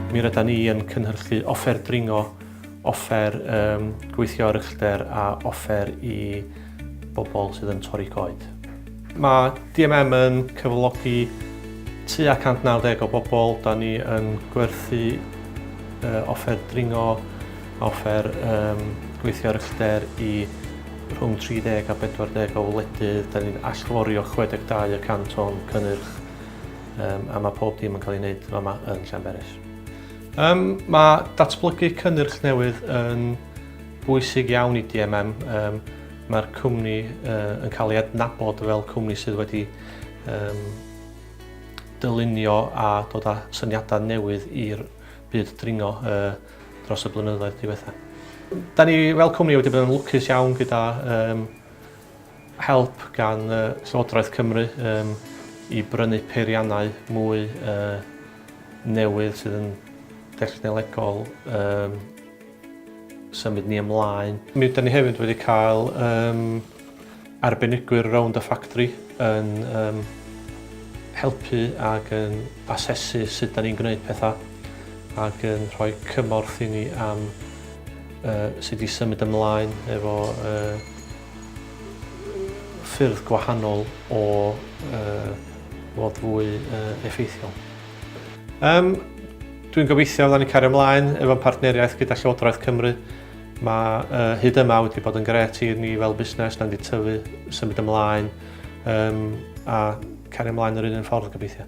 Mi rydan ni yn cynhyrchu offer dringo, offer um, gweithio ar uchder a offer i bobl sydd yn torri coed. Mae DMM yn cyflogi tu a 190 o bobl. Da ni yn gwerthu uh, offer dringo Offer um, gweithio ar uchder i rhwng 30 a 40 o wledydd. Da ni'n allforio 62 y cant o'n cynnyrch um, a mae pob dim yn cael ei wneud yma yn Llanberis. Um, mae datblygu cynnyrch newydd yn bwysig iawn i DMM. Um, Mae'r cwmni uh, yn cael ei adnabod fel cwmni sydd wedi um, dylunio a dod â syniadau newydd i'r byd dringo. Uh, dros y blynyddoedd diwetha. Da ni fel cwmni wedi bod yn lwcus iawn gyda um, help gan uh, Llywodraeth Cymru um, i brynu peiriannau mwy uh, newydd sydd yn dechnolegol um, symud ni ymlaen. Mi ydym ni hefyd wedi cael um, arbenigwyr rownd y ffactri yn yym helpu ac yn asesu sut 'dan ni'n gwneud pethau ac yn rhoi cymorth i ni am uh, sut i symud ymlaen efo uh, ffyrdd gwahanol o uh, fod fwy uh, effeithiol. Um, Dwi'n gobeithio fydda ni cario ymlaen efo'n partneriaeth gyda Llywodraeth Cymru Mae uh, hyd yma wedi bod yn gret i ni fel busnes, na'n di tyfu, symud ymlaen um, a cario ymlaen yr un ffordd gobeithio.